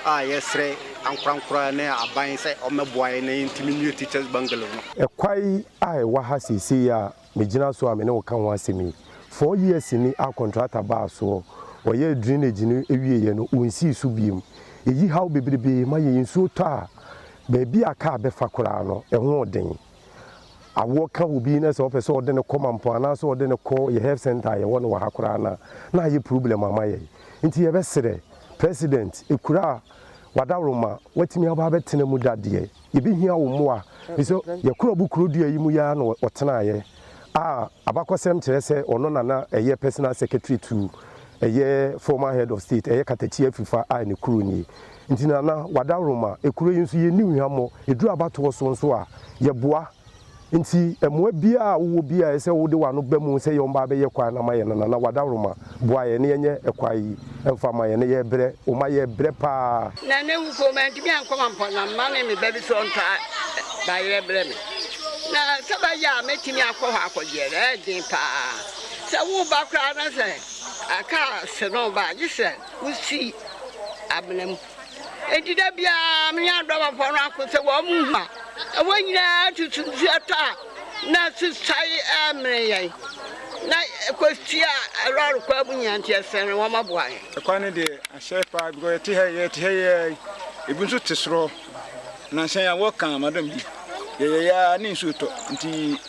a yɛsrɛ. ankorankoro ne aban sɛ wɔmmɛboa yɛn na yɛntumi nnue Teachers Bungalow no. Kwae a ɛwɔ ha seesei yi a megyina so a me ne wo ka ho asɛm yi, four years ni a kɔntrata baa soɔ, wɔyɛɛ drainage no wieeɛ no, wɔnsii so bio. Ɛyi haw bebrebe ma yɛn. Nsuo tɔ a, baabi a kaa bɛfa koraa no, ɛho yɛ den. Awoɔ ka obi na sɛ ɔpɛ sɛ ɔde no kɔ Mampong anaasɛ ɔde no kɔ yɛn health centre a yɛwɔ no wɔ ha koraa no a, na ayɛ problem ama yɛn. Nti yɛbɛsrɛ, President, kuro a w'adaworoma watumi aba abɛtena mu da deɛ, yɛbɛhia wo mmoa, ɛfiri sɛ Yakurob kuro dua yi mu yi ara na ɔtenaeɛ, a abakɔsɛm kyerɛ sɛ ɔno na na ɛyɛ personal secretary to ɛyɛ former head of state, ɛyɛ Katakyi Afifa I ne kuro nie. Nti Nana, w'adaworoma, kuro yi nso yɛnni wo hwammɔ, ɛduru abatoɔ so nso a, yɛboa. Enti mmoa biara a wowɔ biara a ɛsɛ sɛ wode w'ano ba mu sɛ yɛ ɔmma abɛyɛ kwae no ama yɛn no, Nana, w'adaworoma, boa yɛn na yɛnyɛ kwae yi mfa mma yɛn. Yɛrebrɛ wo ma yɛrebrɛ paa. Nana ewu mpo mantumi ankɔ Mampɔn na mma ne me ba bi so ɔntɔ bayerɛ mbrɛ me. Na sɛ bɛyɛ a mɛtumi akɔ hɔ akɔyɛrɛ, ɛyɛ den paa. Sɛ woreba koraa na sɛ car se no ba a, gye sɛ wosi amena mu. Enti da biara me ne adɔbafoɔ no ako sɛ wɔn mu a ɛwɔ nyinaa tutu nsuo tɔ a na susae ɛmene yɛn na ɛkɔsi a lɔre kwan mu nyinaa nti ɛsɛn no wɔn aboa yɛn. Ɛkwan no deɛ ahyɛ paa because yɛte ha yɛte ha yɛ ebi nso te sorɔ na nhyɛn a wɔka madam bi yɛyɛ ya ne nsuo tɔ nti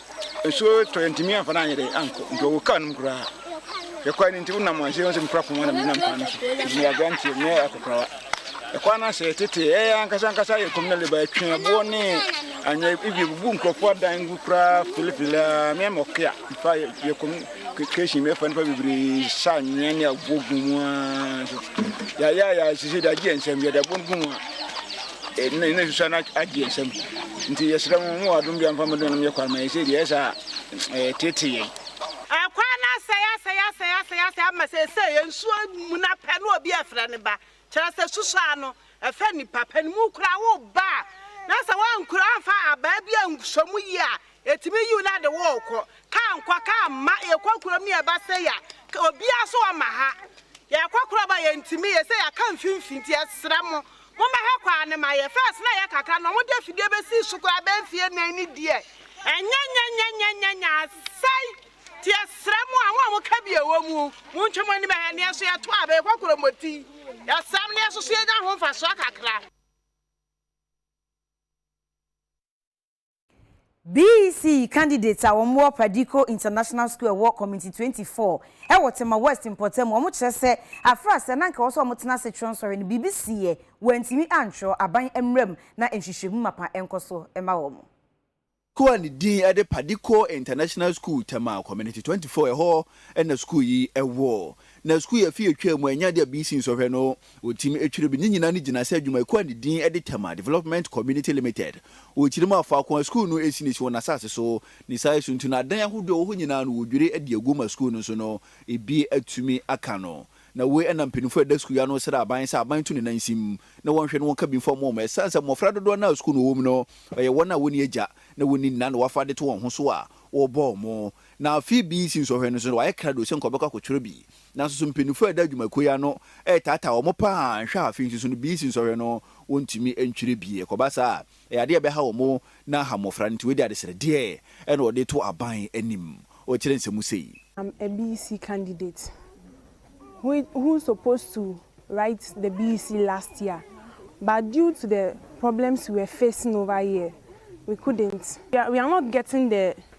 Nsuo tɔ yɛntumi amfa no anyɛ dɛ ankɔ nti ɔwɔ kaa no mu koraa yɛkɔe no nti wonam aseɛ wo sɛ mekura poma na menam kwan no so ɛfiri yɛ aberanteɛ menyɛ akokorawa ɛkwan no asɛ tete ɛyɛ ankasa ankasa yɛ communal labor ɛtwe ɛboɔ ne anyɛ ebi bubu nkurɔfoɔ adan gu koraa filifili a meɛ mɔke a mfa yɛ communal Creation mi ɛfa nipa bebree sa nyɛ ne aboɔ gu mu aa nso yɛayɛ a yɛasese de agye yɛn nsam yɛde aboɔ no gu mu a ɛna ɛna susa no agye yɛn nsam nti yɛsrɛ mo mo wɔ adom bi amfa mo dɔnom yɛ kwan ma yɛn sɛ deɛ ɛsɛ a ɛtete yɛn ɛkwan no asɛe asɛe asɛe asɛe asɛe ama sɛ ɛsɛ yɛn nsuo mu na pɛ no obi ɛfrɛ ne ba Kyerɛ sɛ, susuw ano, ɛfa nnipa pa no mu koraa, wo ba a na sɛ woankura amfa abaa bi anso mu yie a, ɛtumi yiw na ɛde wo rekɔ. Kaa nkɔ, kaa mma, yɛkɔ kurom ne yɛba sei a, obiara so wɔ ma ha. Yɛkɔ kurom a, yɛntumi, yɛ sɛ yɛaka mfimfini nti, yɛsrɛ mo, mommɛhwɛ kwan no ma yɛn. First na ɛyɛ kakra na wɔde afidie bɛsii so koraa bɛyɛ mfeɛ nnan ne deɛ, ɛnyɛ nyɛnyɛnyɛnyɛnyɛ, asɛe. Yɛsrɛ mo a mo a mo ka bi ɛwɔ mu, mo ntwa mo anim ɛhɛ, neɛ nso yɛ to a, bɛyɛ kɔ koromoti. Yɛsrɛ mo neɛ nso so yɛ nya ho nfasoɔ kakra. BEC candidates a wɔn wɔ Perdiko International School ɛwɔ Community twenty four ɛwɔ Tema West mpɔtam wɔn kyerɛ sɛ afra sɛ na nka ɛwɔ sɛ wɔn tena ase twerɛ nsɔhwɛ no biribi siiɛ wɔn antumi antwerɛ aban mmra mu na nhwehwɛmu mapa nkɔ so ma wɔn. Kuo a ne din de Padiko International School Tema Community twenty four, ɛhɔ na sukuu yi wɔ. Na sukuu yi afe a ɛtwaam mu a ɛnyɛ adeɛ a BC nsɔhwɛ no wɔtim twere bi. Ne nyinaa no gyina sɛ adwumayɛkuo a ne din de Tema Development Community Limited. Wɔkyerɛ mu a, faako a sukuu no si no si wɔn asase so. Ne saa su nti no, adan ahodoɔ a ɛwɔ hɔ nyinaa no wɔdwiri de agu ma sukuu no nso no ebi atumi aka no. Na wei na mpanimfoɔ a ɛda sukuu yi ano srɛ aban sɛ aban nto ne nan nsim na wɔnhwɛ na wɔnka bi mfa mmɔ wɔn. Ɛsiane sɛ mmofra dodoɔ no a sukuu na wɔwom no yɛ wɔn a wɔnni agya na wɔnni nna na wɔafa ade to wɔn ho so a, wɔbɔ wɔn. Na afei BBC nsɔhwɛ no so no, wɔayɛ krado sɛ nka wɔbɛkɔ akɔtwerɛ bi. Nanso so mpanyinfoɔ a ɛda adwumakuo yi ano retaataa wɔn paa a? Nhwɛ a afei nso so no, BBC nsɔhwɛ no wɔntumi ntwerɛ bi. Ɛkɔba saa a, Ɛyɛ adeɛ a ɛbɛha wɔn na aha mmɔfra no nti wei deɛ adesrɛdeɛ na wɔde reto aban anim. Ɔrekyerɛ nsɛm sei. Am a BC candidate who who supposed to write the BC last year but due to the problems we were facing over here we couldn't we are not getting the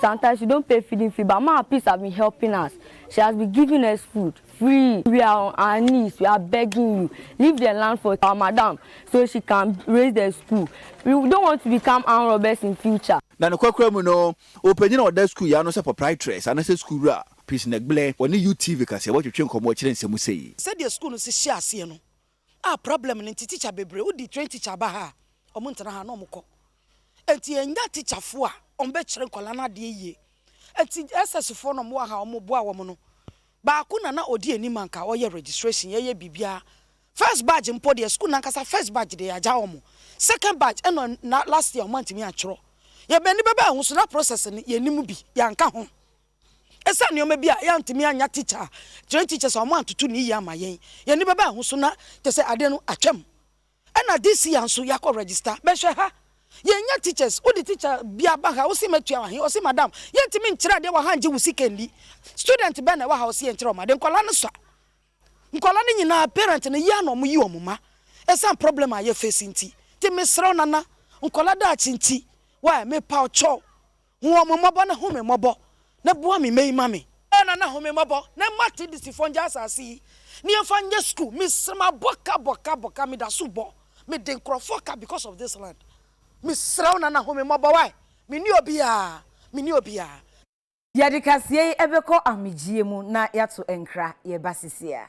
Sometimes we don't pay feeding fee but maa peace has been helping us she has been giving us food free we are on our knees we are begging you leave the land for our madam so she can raise the school we don't want to become armed robbers in future. Na ne kwakora mu no, ɔpanyin a ɔda sukuu yi ano sɛ proprietress anasɛ sukuu wura, Peace Negble, ɔne UTV kaseɛ bɔ twetwee nkɔmmɔ kyerɛ nsɛmu sei. Sɛdeɛ sukuu no si hyɛɛ aseɛ no, Ah problem no nti teacher bebree wo di train teacher aba ha a ɔmo ntena ha na ɔmo kɔ nti yɛn nya teacher fo a ɔmo bɛ kyerɛ nkɔla no adeɛ yie nti SS fo no ɔmo wɔ ha ɔmo boa wɔn no baako na na ɔdi anim anka ɔyɛ registration yɛ yɛ biribiara first badge mpo deɛ school no ankasa first badge deɛ yagya ɔmo second badge ɛna na last year ɔmo antumi antwerɛ yɛ bɛni bɛbɛ ho so na process no yɛ nim bi yɛn anka ho. Esiane nneɛma bi a yɛantumi annya tikya a trained teachers a wɔantoto no yiye amma yɛn, yɛn ani bɛbaa ɛho so na kyerɛ sɛ ade no atwam. Ɛnna this year nso yɛakɔ register. Bɛhwɛ ha. Yɛannya teachers. Wode teacher bi aba ha, wose matua he? Ɔse madam, yɛntumi nkyerɛ adeɛ wɔ ha ngye wo sika nni. Student bɛn na ɛwɔ ha a ɔse yɛnkyerɛ wɔn ade? Nkwadaa no sua. Nkwadaa no nyinaa, parent no yia na wɔyi wɔn mma esiane problem a yɛfeesi nti. Nti mesrɛ wo Nana, nkwadaa daakye nti, why? Mepa wo kyɛw. Hu wɔn mmɔbɔ na hu me mmɔbɔ, na bua me mmɛ yi ma me. Ɛyɛ na na hu me mmɔbɔ, na mma Tebisfoɔ nngya asase yi, ne yɛmfa nyɛ sukuu. Mese mabɔ ka, bɔ ka, bɔ ka, meda so bɔ, mede nkurɔfoɔ ka because of this land. Mesrɛ wo Nana hu me mmɔbɔ wai, menni obiara, menni obiara. Yɛde kaseɛ yi bɛkɔ ahomegyeɛ mu na yɛato nkra, yɛba sesiea.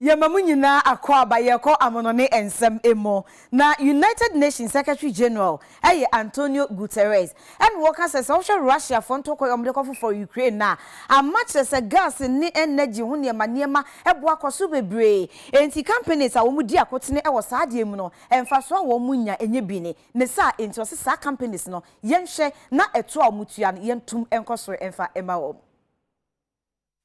Yɛma mo nyinaa akwaaba yɛkɔ amono ne nsɛm mu. Na United Nations Secretary General yɛ Antonio Guterres. Ɛna ɔka sɛ, sɛ wohwɛ Russia foɔ ntɔkwa yi a wɔde kɔ fofɔre Ukraine no a, ama kyerɛ sɛ gas ne energy ho nneɛma nneɛma bo akɔ so bebree. Enti companies a wɔn di akotene wɔ saa adeɛ mu no, mfasoɔ a wɔn nya nyɛ bi ne ne saa. Enti ɔse saa companies no yɛnhwɛ na ɛtoɔ a wɔn tua no yɛntom nkɔ soro mfa mma wɔn.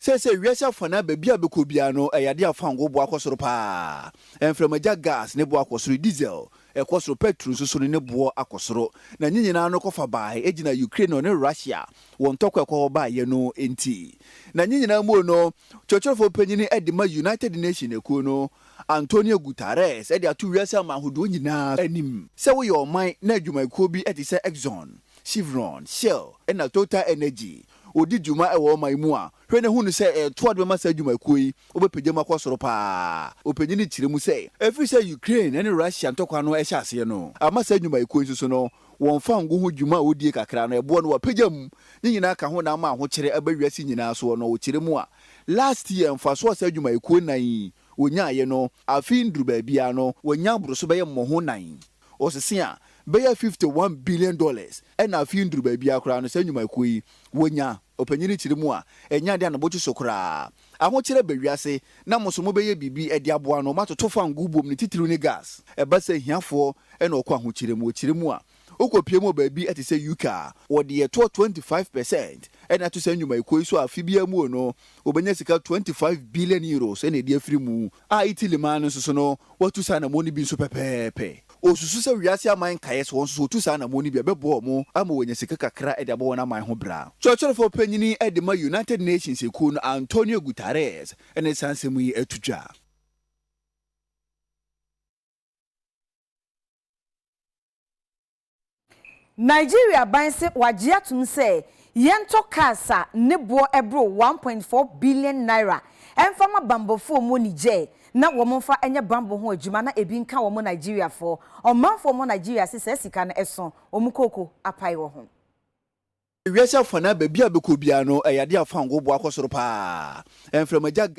Seesei wiase afanan baabi a bɛkɔ biara no, ɛyɛ adeɛ a fangoo bo akɔ soro pa ara. Mframagya gas ne bo akɔ soro, diesel kɔ soro, pɛtro nso so no ne boɔ akɔ soro. Na ne nyinaa no kɔfa bae gyina Ukraine no ne Russia wɔn ntɔkwa a ɛkɔ hɔ baeɛ no nti. Na ne nyinaa mu no, kyerɛkyerɛfoɔ panin de ma United Nations akuo no, Antonio Guterres de ato wiase aman ahodoɔ nyinaa anim. Sɛ woyɛ ɔman na adwumayɛkuo bi te sɛ Exxon, Chevron, Shell na Total Energy ɔdi dwuma wɔ ɔman mu a, hwɛ na hu no sɛ ɛreto ade bɛma saa adwumakuo yi, wobɛpagya mu akɔ soro pa ara. Ɔpanyin no kyerɛ mu sɛ, ɛfiri sɛ Ukraine ne Russia ntɔkwa no hyɛ aseɛ no ama saa adwumakuo yi nso so no, wɔn fango ho dwuma a wɔdie kakra no, ɛboɔ no wɔapagya mu. Ne nyinaa ka ho na ama ahokyerɛ aba wiase nyinaa soɔ no, ɔkyerɛ mu a, last year mfasoɔ a saa adwumakuo nnan yi wɔnyaaeɛ no, afe yi nnuru baabiara no, wɔanya aboro so bɛyɛ mmɔho nnan. Ɔsese a bɛyɛ fifty one billion dollars na afei nduru baabi ara koraa no saa nnwumayɛkuo yi wɔnya. Ɔpanyin no kyerɛ mu a, ɛnyɛ adeɛ a ne bo kye so koraa. Ahokyerɛ ba wiase na mo nso mobɛyɛ biribi de aboa no, moatoto fangoo bom ne titiriw ne gas. Ɛba sɛ ahiafoɔ na wɔkɔ ahokyerɛ mu. Wɔkyerɛ mu a, wokɔpue mu wɔ baabi te sɛ UK a, wɔde ɛtoɔ twenty five percent na ato saa nnwumayɛkuo yi so a afe biara mu no wɔbɛnya sika twenty five billion euros na ɛde afiri mu. a Italy man no nso so no, wɔatu saa anammɔn no bi nso pɛpɛɛpɛ. Wosusu sɛ wiase aman nkae so wɔn nso so wotu saa anammɔn no bi a ɛbɛboa wɔn ama wɔanya sika kakra de abɔ wɔn aman ho bra. Kyerɛkyerɛfo panyin de ma United Nations Ekuw no Antonio Guterres ne saa nsɛm yi to dwa. Nigeria ban se wagye atom sɛ yɛntɔ cars a ne boɔ boro one point four billion naira mfa ma bammɔfoɔ wɔ Niger na wɔn mfa nyɛ bammɔ ho adwuma na ebi nka wɔn Nigeriafoɔ ɔmanfoɔ wɔ Nigeria se saa sika no so wɔn kooko apae wɔ ho. Wiase afanaa baabi a bɛkɔ biara no, ɛyɛ adeɛ a fangoo boa kɔ soro pa ara. Mframagya.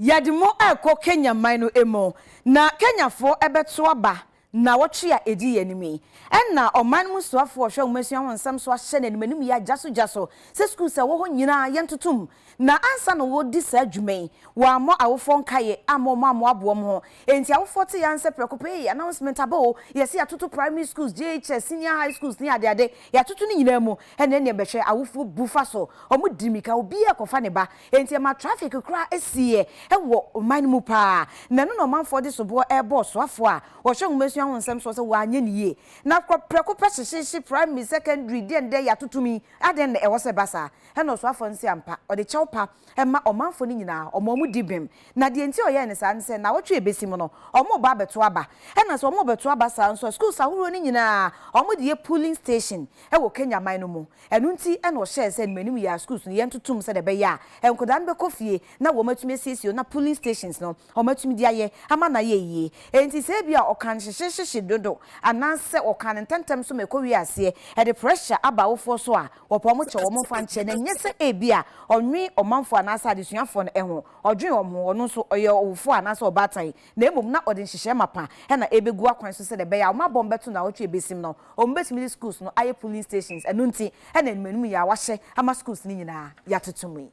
Yɛde mo rekɔ Kenya man no mu, na Kenyafoɔ bɛto aba Nnawɔtwe a edi yɛn anim yi, ɛnna ɔman mu soafo a ɔhwɛ nhomasua ho nsɛm so ahyɛ n'anim anim yɛ agyasogyaso sɛ sukuus a ɛwɔ hɔ nyinaa yɛntoto mu. Na ansa na wɔredi saa dwuma yi, wɔammɔ awofoɔ nkaeɛ amma wɔn ammoaboa wɔn ho. Enti awofoɔ tee ara nsɛ prɛko pɛ, Ei, announcement aba o! Yɛse yɛatoto primary schools, JHS, senior high schools ne adeade, yɛatoto ne nyinaa mu. Ɛnneɛ neɛ bɛhwɛ, awofoɔ bu fa so, wɔdi mmirika, obiara rekɔfa ne ba. Enti ɛma traffic koraa sieɛ wɔ ɔman no mu paa, na ɛno na ɔmanfoɔ de soboɔ rebɔ ɔsoafoɔ a ɔhwɛ nwomasua ho nsɛm soɔ sɛ wanyɛ no yie. Na kɔ prɛko pɛ hyehyeehye primary, secondary, deɛn deɛn yɛ atotom yi, adɛn na ɛwɔ sɛ ɛba saa? Ɛna ɔsoafoɔ no se ampa, ɔde kyɛw pa ma ɔmanfoɔ no nyinaa, ɔma wɔn di bem. Na deɛ nti a ɔyɛɛ no saa ne sɛ, nnawɔtwe a ɛbɛsi mu no, wɔrebɔ abɛto aba. Ɛna sɛ wɔrebɛto aba saa nso a, schools ahoroɔ no nyinaa, wɔde yɛ polling station wɔ Kenya man no mu. Ɛno nti na ɔhyɛɛ sɛ mmanim yɛ a schools no yɛntoto mu sɛdeɛ ɛbɛyɛ a nkwadaa no bɛkɔ fie na wɔatumi asiesie hɔ na polling stations no wɔatumi de ayɛ ama no ayɛ yie. Enti sɛ ebi a ɔka no hyehyehyehye dodo anaasɛ ɔka no ntɛmntɛm so ma ɛkɔwie aseɛ ɛde pressure aba awofoɔ so a, wɔpɛ wɔn kyɛ wɔn mfa nkyɛ na ɛnyɛ sɛ ebi a ɔnnwen ɔmanfoɔ anaasɛ adesuafoɔ no ho, ɔdwen wɔn ho, ɔno nso ɔyɛ ɔwofoɔ anaasɛ ɔbaatan. na mmom na ɔde nhyehyɛe mapã na ebegu akwan so sɛnea ɛbɛyɛ a wɔabɔ no bɛto naawɔtwe a ebesim no. Wɔbetumi de schools no ayɛ polling stations, ɛno nti na nnuanum yi a wɔahyɛ ama schools no nyinaa yɛatoto mu yi.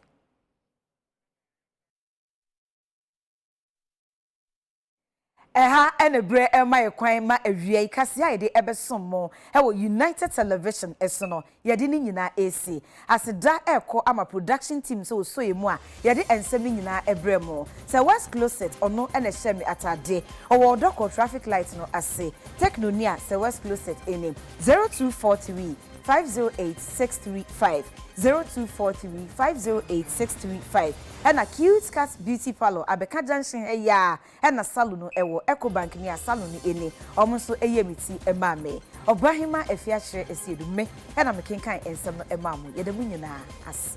Ɛha na bere rema yɛn kwan ma awiei kaseɛ a yɛde bɛsom mo wɔ United Television so no Yɛde ne nyinaa resi. Aseda rekɔ ama production team sɛ wɔsɔ yɛn mu a yɛde ɛnsɛm no nyinaa ɛbrɛ mo. Sir West Closet ɔno na ɛhyɛ me atade. Ɔwɔ ɔdɔ kɔ traffic light no ase. Techno ni a Sir West Closet ɛni. 0243 508 635 0243 508 635 Ɛna Cute Cut Beauty Parlour abɛka junction ha yi ara Ɛna salon no ɛwɔ Ecobank nea salon no ɛni ɔmo nso ɛyɛɛ me ti ɛmaa me. Ɔbaahemaa Afia kyerɛ ɛseɛ du me ɛna me kenkan ɛnsɛm no ɛmaa mo. Yɛda mo nyinaa ase.